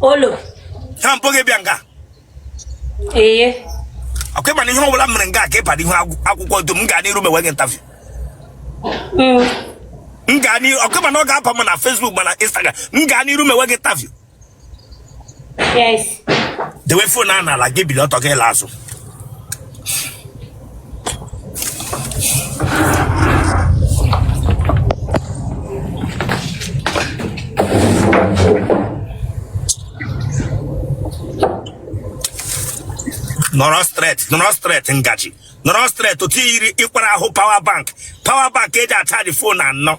olo ha m kpọ gị bịa nga ee ọkwa ịma na ihe ọbụla mere nga ga ịba n'ihu akwụkwọ dum m ga n'iru mewe gị interview m ga n'iru ọkwa ịma na ọ ga-aba ma na Facebook ma na Instagram m ga n'iru mewe gị interview Yes. Dewe phone a n'ala gị bili ọtọ gị la azụ. nọrọ straight nọrọ straight ngaji nọrọ straight otu yiri ịkwara ahụ power bank power bank eji achaji phone anọ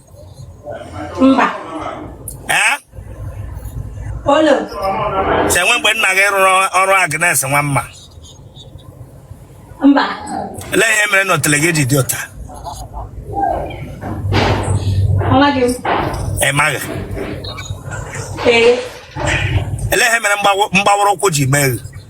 mba ee olo chenwe mgbe nna gị rụrụ ọrụ Agnes nwa mma mba ele ihe mere na otele gị ji dị otu a amaghị m ị maghị ee ele ihe mere mgbawa- mgbawara ụkwụ ji mee gị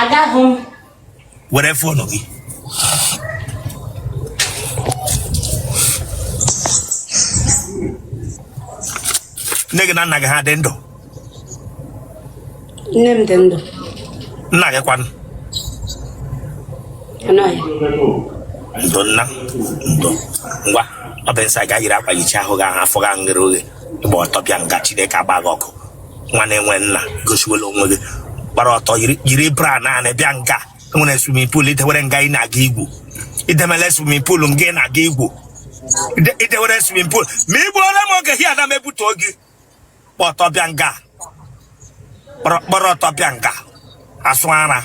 agaghị m were fonu gị nne gị na nna gị ha dị ndụ nne m dị ndụ nna gị kwanụ anọghị ya ndo nna ndo ngwa ọ bụ nsị aga yiri akwa yichi ahụ gị ahụ afọ gị ahụ ghere oghe ịgba ọtọ bịa nga Chineke agba gị ọkụ nwa na-enwe nna gosiwela onwe gị gbara ọtọ yiri- yiri bra naanị bịa nga e nwere swimming pool idewere nga ị na-aga igwu idemele swimming pool nga ị na-aga igwu Ide- idewere swimming pool ma igbu ole m oge here na m ebute oge gba ọtọ bịa nga gbara gbara ọtọ bịa nga asụ ara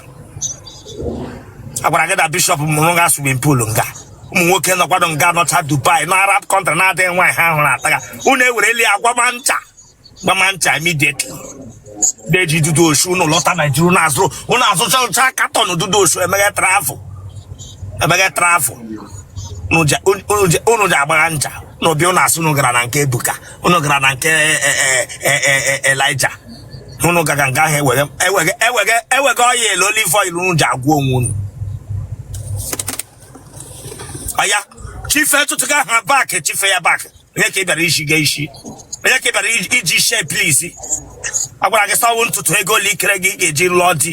agwara gị na bishop mụrụ nga swimming pool nga ụmụ nwoke nọkwado nga nọcha Dubai na Arab country na-adịghị nwaanyị ha hụrụ ataga unu ewereli agbama ncha gbama ncha immediately na-eji Dudu Osun ụnụ lọta Nigeria ụnụ azụrụ ụnụ azụcha ụcha carton Dudu Osun emega travel emega travel ụnụ ji agbagha ncha na obi ụnụ asụ ụnụ gara na nke Ebuka ụnụ gara na nke Elijah ụnụ gaga nga ahụ ewege oil olive oil ụnụ ji agwọ onwe ụnụ ọya shift tụtụga ha back shift ya back onye ka ị bịara iji gee isi onye ka ị bịara iji- iji shee please a gwara gị sawo ntutu ego ole ikere gị ị ga-eji lụọ di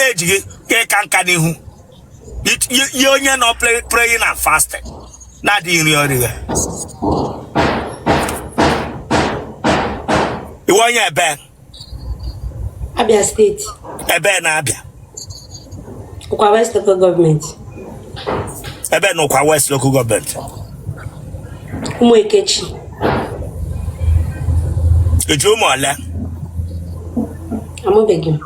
eji gị ka ịka nka n'ihu It- ye ye onye nọ play- praying and fasting na-adịghị nri ọrịa iwe onye ebe Abia steeti. Ebee na Abia. Ukwa West Local Government. Ebee na Ukwa West Local Government. Ụmụekechi. I ji ụmụ ole? Amụbeghị m.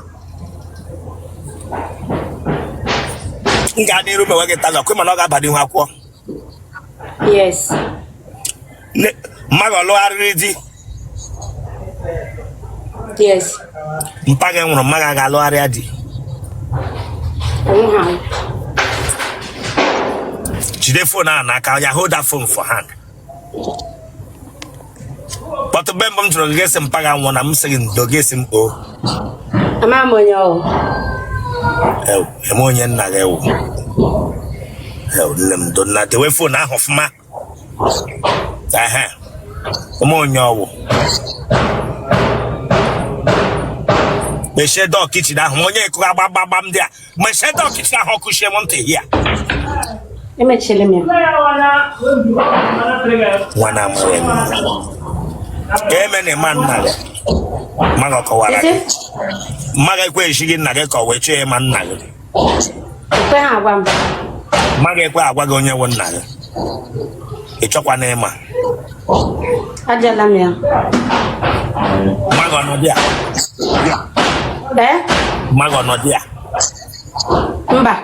M ga-adị iru mewe gị taga, kwe mana ọ ga-aba n'ihu akwụkwọ. yes Ne- mma gị ọ lụgharịrị di yes mpa gị nwụrụ mma gị agaa lụgharịa di onwe ha jide phone ahụ n'aka ya hold that phone for hand but mgbe mbụ m chọrọ gị asị mpa gị nwụọ na m sị gị ndo gị asị m o ama m onye ọ wụ ịma onye nna gị wụ nne m ndo nna dewe phone ahụ ọfụma ehe ịma onye ọ wụ mechie door kitchen ahụ ma onye ikuku agbagbagbam ndị a mechie door kitchen ahụ ọ kụchie m ntị ya emechiri m ya nwa na amaghị m ka eme na ịma nna gị mma gị ọ kọwara gị mma gị ekwe ezi gị nna gị ka ọ wụ ị chọọ ịma nna gị ekwe ha agwa m mma gị ekwe agwa gị onye wụ nna gị ị chọkwa na ịma Ajụọla m ya. Mma gị ọ nọ dị a. Ee? Mma gị ọ nọ dị a. Mba.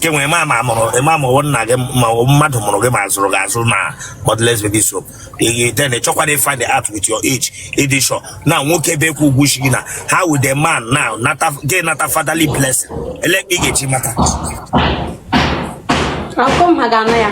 Ka e nwee ma ma mụrụ ma mụrụ nna gị ma mmadụ mụrụ gị ma a zụrụ gị azụ na God Bless Baby Shop. Ee, then ị chọkwara ị find out with your age ị dị sure na nwoke be kwụ ugwu shiri na how will the man now nata gị nata fatherly blessing olee ka ị ga-eji mata Ọkụ mma gị anọ ya.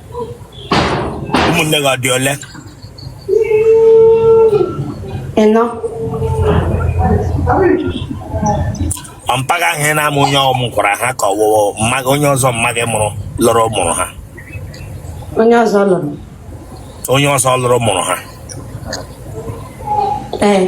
ụmụnne gị ọ dị ole ịnọ ọ mpa gị ahụ ị na-ama onye ọ mụkwara ha ka ọ wụ mma gị onye ọzọ mma gị mụrụ lụrụ mụrụ ha onye ọzọ lụrụ onye ọzọ lụrụ mụrụ ha ee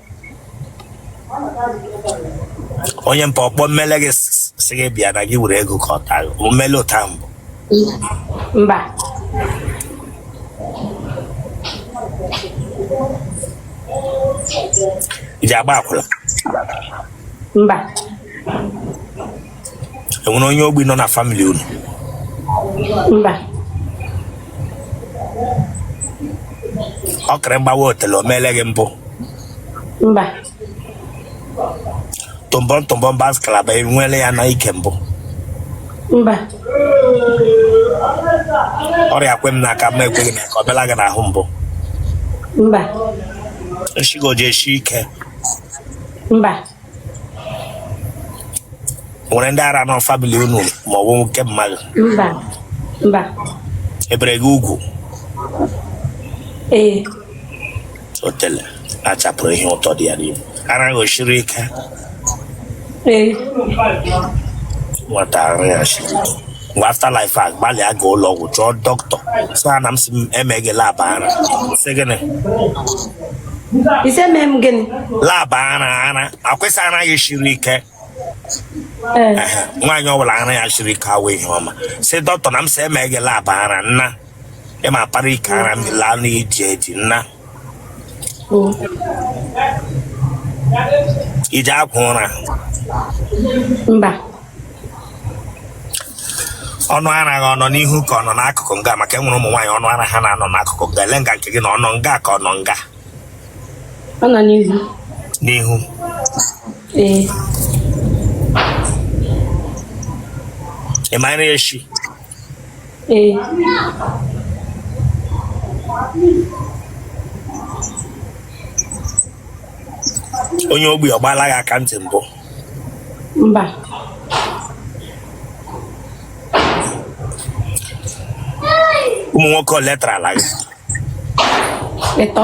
onye mpa ọ kpọ mmele gị s- sị gị bịa na gị were ego ka ọ taa gị o mele otu a mbụ mba i ji agba akwụla mba enwere onye ogbi nọ na family unu mba ọkịrị mgbawa otele o meele gị mbụ mba tụmbọm tụmbọm bas kalaba enwele ya na ike mbụ mba ọrịa kwe m n'aka ma ekweghị n'aka ọ bịala gị n'ahụ mbụ mba nshị gị ọ ji eshi ike mba nwere ndị ara nọ family unu ma ọ wụ nke mama gị mba mba e bere gị ugwu ee otele achapụrụ ihe ụtọ dị ya n'ime ara gị ọ siri ike ee nwata ara ya siri ike mgbe after live a gbalịa ga ụlọ ọgwụ chọọ dọkịta sị ha na m sị e mee gị lab ara sị gịnị ị sị e mee m gịnị lab ara ara akwesị ara ya shiri ike ee Ehe, nwaanyị ọbụla ara ya shiri ike awụ ihe ọma sị dọkịta na m sị e mee gị lab ara nna ịma para ike ara m laa n'iji eji nna ị ji agwọ ụra mba ọnụ ara gị ọ nọ n'ihu ka ọ nọ n'akụkụ nga maka enwere ụmụ nwaanyị ọnụ ara ha na-anọ n'akụkụ nga elee nga nke gị nọ ọ nọ nga ka ọ nọ nga ọ nọ n'ihu n'ihu ee ị mara echi Ee. onye ogbi ọ gbaala gị aka ntị mbụ Mba. ụmụ nwoke ole tarala gị Ịtọ.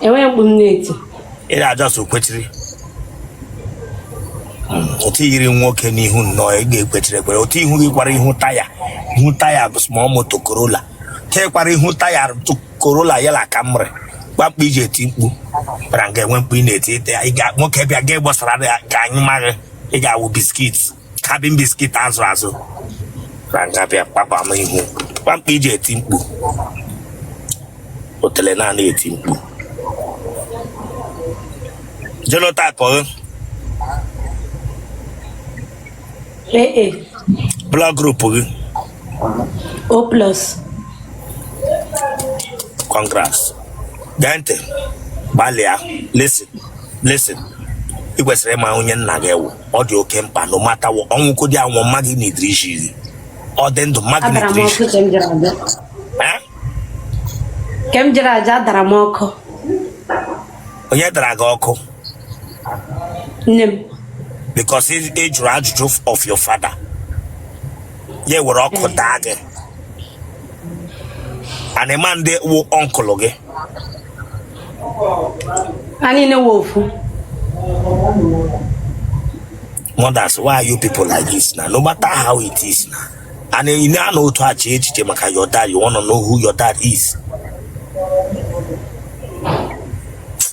enweghị mkpu m na-eti ị ga just kwechiri otu i yiri nwoke n'ihu nnọọ ị ga-ekwechiri ekwere otu ihu gị kwara ihu taya ihu taya bụ small moto corolla te kwara ihu Toyota Corolla ya la Camry gbakpụ iji eti mkpu kpara nga enwe mkpu ị na-eti ite ya ị ga nwoke bịa ga gbasara ya ka anyị maghị ị ga-awụ biscuit cabin biscuit azụ azụ na nga bịa kpakpa m ihu kpamkpa iji eti mkpu otele naanị eti mkpu genotype gị AA. blood group gị O plus. congrats gee ntị gbalịa listen listen ị kwesịrị ịma onye nna gị wụ ọ dị oke mkpa na ọ mata ọnwụ kodi anwụ mma gị nidiri isi gị ọ dị ndụ mma gị adara m nidiri isi ọkụ ka m jere aja Eh? ka m jere aja a dara m ọkụ onye dara gị ọkụ nne m because ị ị jụrụ ajụjụ of your father ya were ọkụ daa gị and ị ma ndị wụ uncle gị anyị na-ewe ofu mothers why are you people like this na no matter how it is na and ị na-anọ otu a chee echiche maka your dad you wanna know who your dad is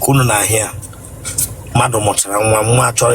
ka unu na-ahụ ya mmadụ mụchara nwa nwa chọrọ